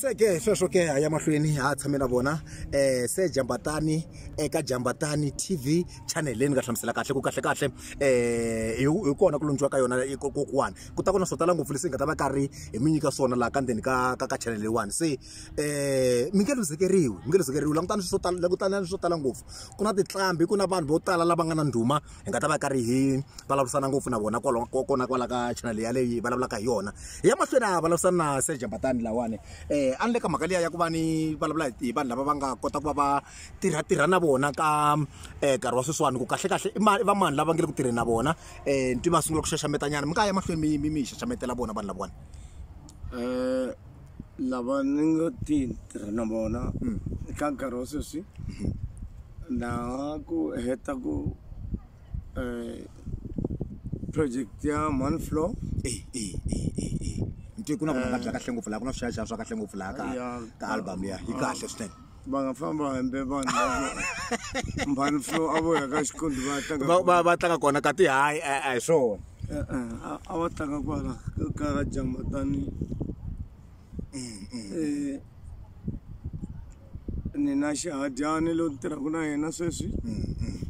se ke sweswo ke a ya mahlweni ha a tshame na vona um se jambatani eka eh, jambatani tv channel leyi ni nga hlamusela kahle ku kahle kahle um hi kona ku lundziwa ka yona kokuwani ku ta ku na swo tala ngopfu leswi hi nga ta va karhi hi mi nyika swona laha ka ndzeni ka ka ka channel leyiwani se um mi nge luzekeriwi mi nge luzekeriwi langutani swo tala langutani swo tala ngopfu ku na titlambi ku na vanhu vo tala lava nga na ndhuma hi nga ta va karhi hi vulavurisana ngopfu na vona kwalaho kona kwala ka channel yaleyi vulavulaka hi yona hi ya mahlweni a vulavurisana na serge mbatani lawani um a ni le ka mhaka liya ya ku va ni vulavula hi vanhu lava va nga kota ku va va tirhatirha na vona ka um nkarhi wa sweswiwani ku kahlekahle i va mani lava nge le ku tirheni na vona um nti va sungula ku xaxametanyana mi nga ya mahlweni mi mi mi xaxametela vona vanhu lavawani um lava ni ngo ti tirha na vona eka nkarhi wa sweswi na ku heta ku project ya one floor ntiyiso ku na ku nga kahle ngopfu laha ku na swiyaxiya swa kahle ngopfu laha ka ka album liya yi kahle swinene va nga famba hembe vanhu mhani flo a vo ya ka xikondi va tlanga va tlanga kona ka ti hayi a hi swona e-e, a va tlanga kwala ka jamatani mm, mm. eh, ni na xihadyani lo tirhaka na yena sweswi mm,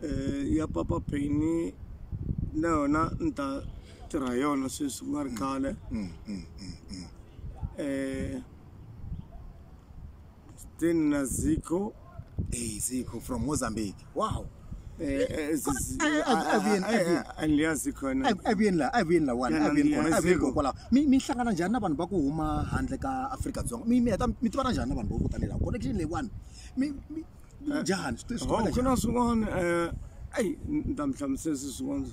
eh, ya papa peni na yona ni ta tirha yona sweswi ku nga ri khale um tena ziko eh, ziko from mozambique wow Eh, eh, zi- zi- Eh, eh, ah, Avian, ah, Avian. ah, andiyazi khona Ab- avian la avian la one Yana, avian kona mina avian ziko. kona kwalaho mi mi hlangana njhani na vanhu va ku huma handle ka afrika dzonga mi mi heta mi tivana njhani na vanhu vo ku tanihi laha connection leyiwani mi mi- njani Sicela Hawu siqala khona swin'wana eh ayi ni ta mi hlamusela se swin'wana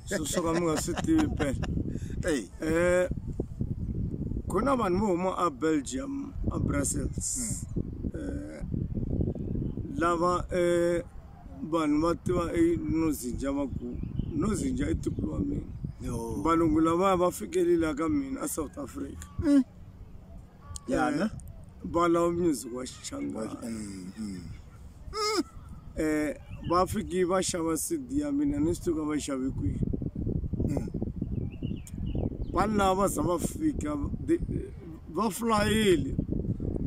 swo swo ka mi nga swi tivi phela njhani? Ey, eh ku na vanhu vo huma a belgium a brussels eh lava eh vanhu va tiva enozinja va ku nozinja i tiko wa mina yo. valungu lavaya va fikelile ka mina a south africa ya ne ba lawo music wa xichangani Mm, mm. um va fiki va xava cd ya mina ni swi tiva va yi xave kwihi Mm. vanhu lava va za va fika the- va flayile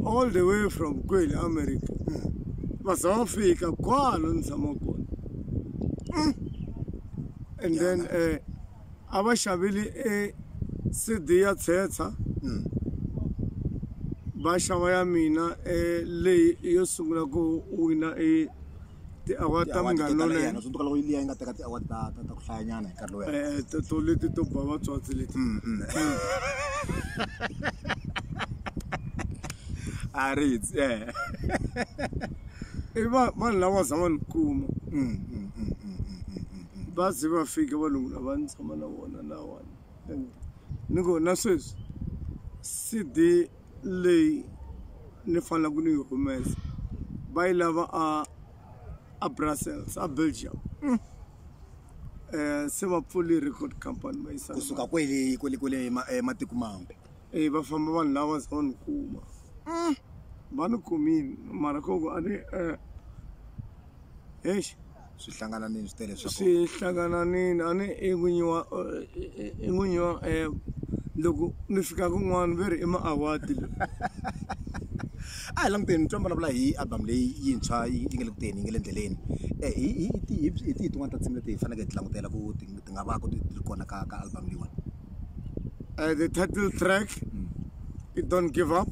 all the way from kwele america Mm. va za va fika kwala ni tshama kona and then um a va xavile e CD ya Tshetsa va xava ya mina e leyi yo sungula ku wina e ti-award ta munghana lonene swi loko yi liya yi nga teka ti-award ta ta ta ku hlayanyana hi nkarhi lowu eh to to leti to ba vatswatsi leti mm, mm. a ri eh i vanhu lava zama ni kuma mm, va ze va fika valungu lava ni tshama na vona lawani ni ku na sweswi cd leyi ni fanelaka ni yi humesa va yi lava a a brussels a belgium mm. eh, se va pfuli record company va yisa kusuka kwele kwele kwele eh, matiko mambe eh, va famba vanhu lava za va ni kuma mm. va ni kumile mara koko a ni eh, hexe swi hlangananile swi tele swi hlangananile a ni i n'winyi wa i n'winyi wa app loko ni fika kun'wana ve ri i ma-award a hi languteni twa vulavula hi album leyi yintshwa yi nge le ku teni yi nge le endleleni um hi hi hi hi tihi tin'wana ta tinsimu leti hi faneleke hi ti langutela ku ti ti nga va ku ti ri kona ka ka album leyiwani uh, the title track mm. i don't give up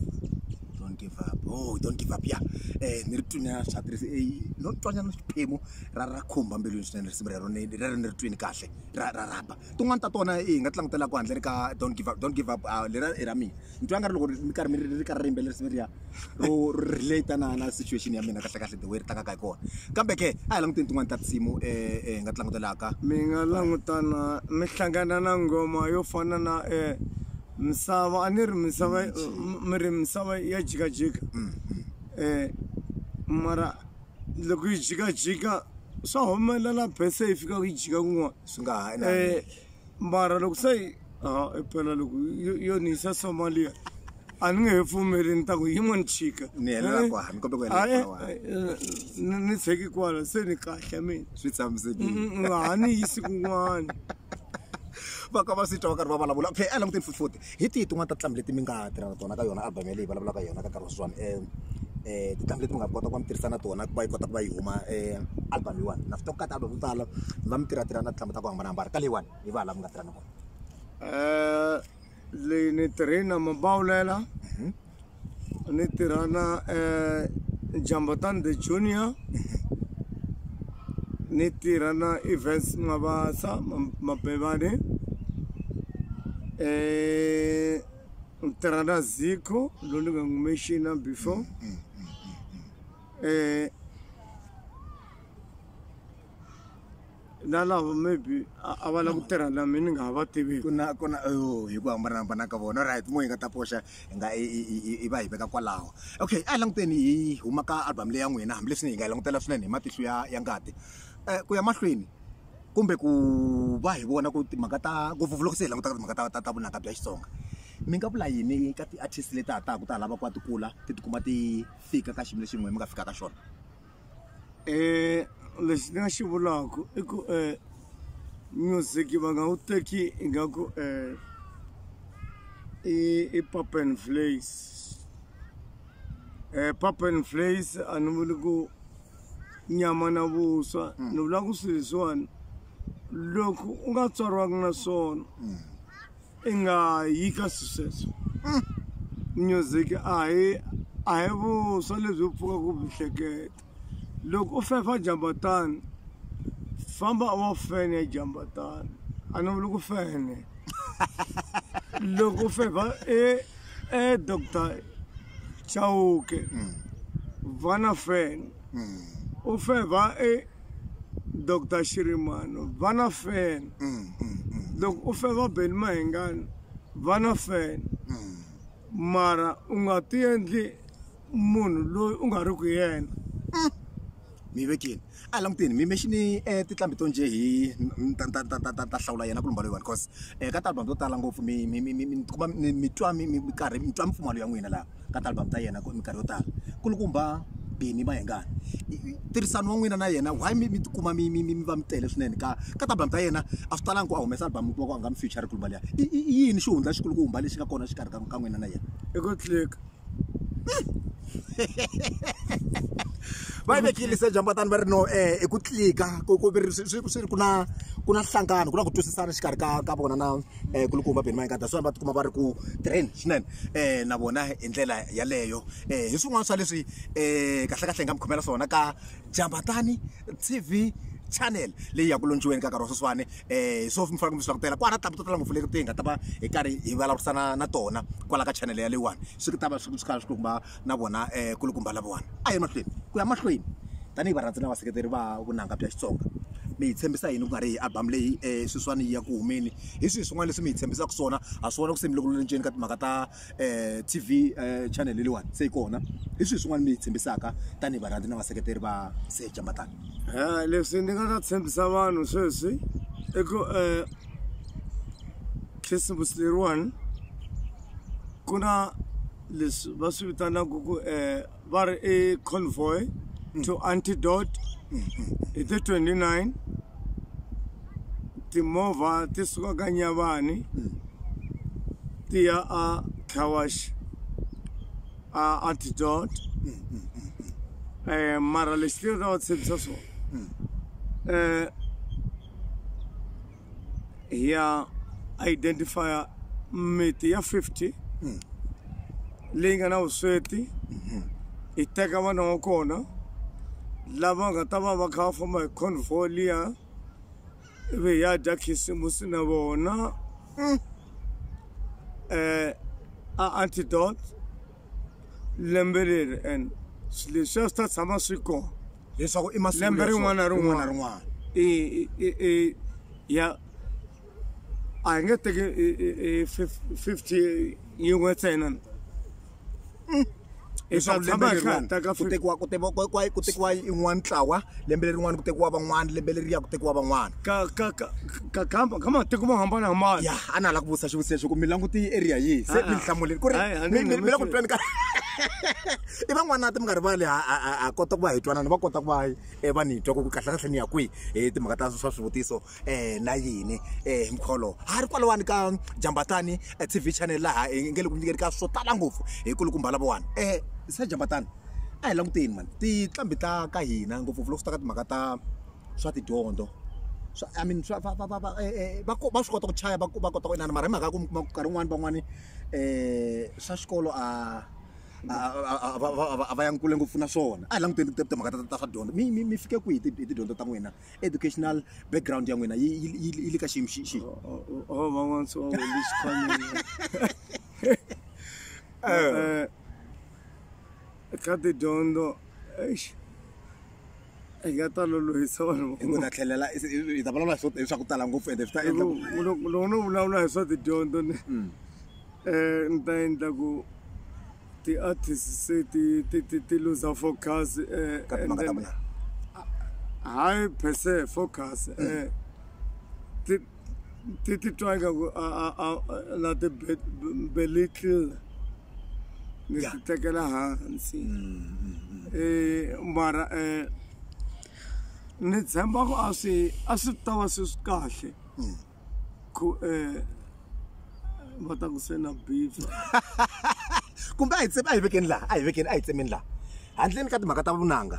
don't give up oh don't give up ya um eh, ni ri twini a swa tirhisi eh, no twanyana xiphemu ra ra khumba mbilwini swinene risimu rero ni ri ri ni ri twini kahle ra ra rhamba tin'wani ta tona hi nga ti langutela ku handle ri ka don't give up don't give up ah, lera i ra mina ni twa nga ri loko mi karhi mi ri karhi ri yimbelela risimu leriya ro relate na na situation ya mina kahlekahle the way ri tlangaka hi kona kambe ke a hi languteni tin'wani ta tinsimu um hi nga ti langutelaka mi nga langutana mi hlangana na nghoma yo fana na um misava a ni ri misava mi ri misava ya jikajika um mara loko yi jikajika swa humelela bese yi fika ku yi jika kun'wana swi nga ha mara loko se a i phela loko yo- yo ni yisa somalia a ni nge he pfumeli ni ta ku yin'wani chika ni helela kwa ni kombe ku helela Ae, kwa ae, ni ni tsheki kwala se ni kahle mina swi tshamisekile Mm, mm, ha ni yisi kun'wana va ka va swi twa va karhi va vulavula okay a languteni fufuti hi tihi tin'wana ta tintambi leti mi nga tirha na tona ka yona album yaleyi vulavulaka hi yona ka nkarhi wa sweswiwani um um tintambi leti mi nga kota ku va mi tirhisa na tona ku va yi kota ku va yi huma um album yiwani na swi tiva ku ka ti-album to tala mi va mi tirhatirha na tintambi ta ku hambanahambana ka leyiwani hi va la mi nga tirhani kona um leyi ni tirhi na mabawulela mhm. ni tirha na um jambotan the junior ni tirha na events mabasa mabevane um ni tirha na ziko loyi ni nga n'wi mexina before um na lava maybe a va lava ku tirha na mina ni nga ha va tiviki ku na ku na oh, hi ku hambanahambana ka vona right mo hi nga ta poxa hi nga i va hi veka kwalaho okay a languteni hi huma ka album leyi ya n'wina hambileswi ni hi nga yi langutela swinene hi matihlo ya ya ngati um ku ya mahlweni kumbe ku va hi vona ku timhaka ta ngopfupfu loko se hi langutaka timhaka ta ta vunanga bya xitsonga mi nga vula yini ka ti-artist leti ha taka ta ha lava ku va ti kula ti tikuma ti fika ka xiyimo lexi n'wina mi nga fika ka xona Eh, lexi ni nga xi vulaka i ku eh, music va nga wu teki ingaku eh, i i pop and flays eh, pop and flays a ni vuli ku nyama na vuswa ni vula ku swilo leswiwani loko u nga tswariwanga na swona i nga yi ka swisweswo hmm. music a hi a hi vuswa lebyi u pfuka ku byi hleketa loko u fefa jambatani famba wa fene jambatani a ni vuli ku fene loko u fefa e e doctor chauke hmm. vana fene hmm. u fefa e dr xirimano vana fela mm, mm, mm. loko u feva beni mahengani vana fela mara u nga ti endli munhu loyi u nga ri ku yena mi vekile a languteni mi mexini um eh, titlambi to nje hi ta hlawula yena ku lumba loyiwani cause um eh, ka talbam to tala ngopfu mi tikuma mi twa mi karhi mi twa mipfumalo ya n'wina laha ka ti-album ta yena minkarhi yo tala kulukumba Benny Mayengani tirhisano wa n'wina na yena why mi mi tikuma mi mi mi mi va mi tele swinene ka ka ti-album ta yena a swi talanga ku a humesa album mi kuma ku a nga mi future kulukumba liya i i i yini xihundla xikulukumba lexi nga kona xikarhi ka ka n'wina na yena i ku click va yi vekile se jambatani va ri no um i ku tlika ku ku swi ri ku na ku na nhlangano ku na ku twisisana xikarhi ka ka vona na um kulukumba beni mayingada swona va tikuma va ri ku tirheni swinene um na vona hi ndlela yaleyo um hi swin'wana swa leswi um kahlekahle hi nga mi khomela swona ka jambatani tv channel leyi ya ku lontshiweni ka nkarhi wa sweswiwani um so mi fanele mi swi langutela kwala tlamu to tala ngopfu leti ti hi nga ta va hi karhi hi vulavurisana na tona kwala ka channel yaleyiwani swi ta va swi kha swi kuma na vona kulukumba lavawani a hi mahlweni ku ya mahlweni tanihi varhandzi na vaseketeri va vunanga bya Xitsonga mi hi tshembisa yini ku nga ri hi album leyi sweswiwani yi ya ku humeni hi swihi swin'wana leswi mi hi tshembisaka swona ha swi vona ku se mi loko mi ka timhaka ta T_V channel leyiwani se yi kona hi swihi swin'wana mi hi tshembisaka tanihi varhandzi na vaseketeri va Sir Jamatani leswi ni nga ta tshembisa vanhu sweswi i ku khisimusi leriwani ku na leswi va swi vitanaka ku um va ri i convoy to antidote hi ti 29 timovha ti suka ka nyavani ti ya a cawash a antidote um mara lexi ti nga ta va tshembisa swona um ya identifier miti ya 50 leyi nga na vusweti yi teka vana wa kona lava nga ta va va kha va famba hi convoy liya ivi hi ya dya khisimusi na vona um a antidote lembe leri and swi leswiya swi ta tshama swi kona leswaku i masiku Lembe rin'wana na rin'wana. na rin'wana i i- i i ya a hi nge teki i- i- i fif- 50 yin'we ntsena hi ta leswaku tshama lembe hi kha hi leriwani teka ku 50 tekiwa ku tekiwa ku- ku- ku tekiwa yin'wana ntlawa lembe lerin'wana ku tekiwa van'wana lembe leriya ku tekiwa van'wana ka ka ka ka kamba ka matiko mo hambanahambana ya a na ha la ku vutisa xivutiso xo ku mi langute yi area yihi se Ah, ah. mi hlamuleni ku ri Hayi, a mi ni mi- mi la ku nhlamuseli. tweni ka i van'wanati mi nga rivali ha ha kota ku va hi twanana va kota ku va um va ni twa ku kahlekahle ni ya kwihi hi timhaka ta swa swivutiso um na yini um hi mkholowo ha ri kwalawani ka jambatani t v channel laha hi nge le ku nyikeni ka swo tala ngopfu hi ku likumba lavawani um sa jambatani a hi languteni mani tinqambi ta ka hina ngopfungopfu loko swi ta ka timhaka ta swa tidyondzo swa i mean swa va va va va eh, eh, va va swi kota ku chaya va va kota ku inana mara hi mhaka ya ku mi kuma ku nkarhi wun'wani van'wani um swa xikolo a a va yang kule ngopfu na swona a hi languteni timhaka ta ta swa dyondzo mi mi mi fike kwihi hi tidyondzo ta n'wina educational background ya n'wina yi yi le ka xiyimo xi xi van'wana swa wena xikhwamile ka tidyondzo eish hi nga ta lolohisa vanhu hi ku ta tlhelela hi ta vulavula hi swa ku tala ngopfu ende swi ta endla loko no vulavula hi swa tidyondzo ni um mm. eh, ni ta endla ku ti-artist se ti ti ti ti luza focus um hayi per se focus um tete try ka ku a a a la ti belittle ni ti tekela hansi eh mara eh ni tshemba ku a swi a swi ta va swi swi kahle ku eh va ta ku se na beef kumbe a hi tsemi a hi vekeni laha a hi vekeni a hi tsemeni laha handleni ka timhaka ta vunanga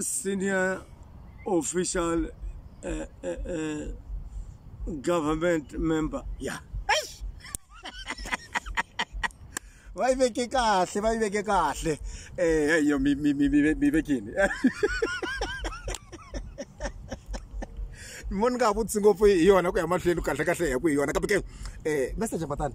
senior official uh, uh, uh, government member ya Eish! va yi veke kahle va yi veke kahle um yo mi mi- mi- mi ve- mi vekini mo ni nga ha vutisi ngopfu hi yona ku ya mahlweni kahle kahle hi ku hi yona kambe ke um message matani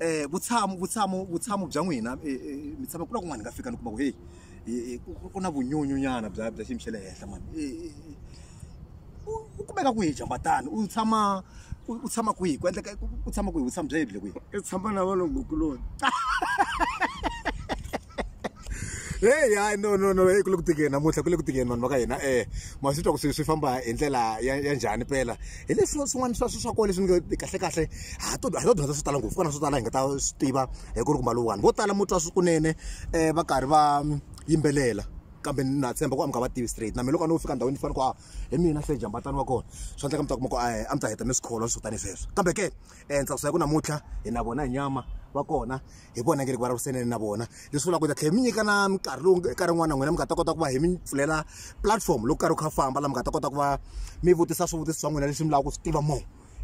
um vutshamo vutshamo vutshamo bya n'wina mi tshama ku na kun'wana hi nga fika ni kuma ku heyi ku na vunyunyunyana bya bya xiyimo xa le henhla mani u kumeka kwihi jambatani u tshama u tshama kwihi ku endleka u tshama kwihi vutshamo bya yebile kwihi i tshama na vanhu gukuloni heyi hayi no no no heyi ku le ku tikeni namuntlha ku le ku tikeni vanhu va ka hina um ma swi twa ku swi swi famba hi ndlela ya ya njhani pela hi leswi swin'wana swa swa kona leswi ni kahle kahle ha to ha to dyondza swo tala ngopfu kona swo tala hi nga ta swi tiva hi ku ri kumba lowuwani vo tala mo twa swi kunene um va karhi va yimbelela kambe na tshemba ku a mi nga va tivi straight na mina loko a no fika ndhawini ni fana ku a hi mina se jambatani wa kona swi endleka mi ta kuma ku a a mi ta heta ni swikholwa swo tani sweswo kambe ke um ni tsakusa hi ku namuntlha hi na vona hi nyama va kona hi vona nge ri vulavurisaneni na vona leswi vulaka ku ta tlhela mi nyika na minkarhi lowu eka rin'wana na n'wina mi nga ta kota ku va hi mi pfulela platform loko karhi wu kha famba laha mi nga ta kota ku va mi vutisa swivutiso swa n'wina leswi mi lavaka ku swi tiva mo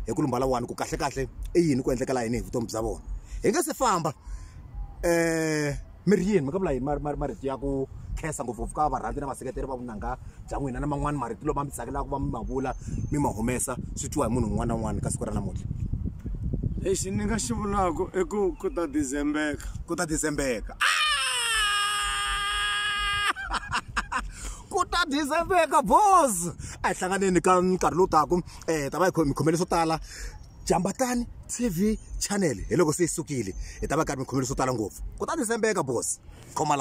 hi ku lumbala wani ku kahle kahle i yini ku endlekela yini hi vutomi bya vona hi nga se famba um mi ri yini mi ka vula yini marito ya ku khensa ngopfungopfu ka varhandzi na vaseketeri va vunanga bya n'wina na man'wani marito lama mi tsakelaka va mi ma vula mi ma humesa swi twiwa hi munhu un'wana na un'wana ka siku ra namuntlha lexi ni nga xi vulaka i ku ku ta dizembeka ku ta dizembeka ku ta dizembeka bos a hi hlanganeni ka nkarhi lowu taku um eh, ta va hi mi khomele swo tala jambatani tv channel hi loko se yi sukile hi ta va karhi mi khomele swo tala ngopfu ku ta dizembeka bos khoma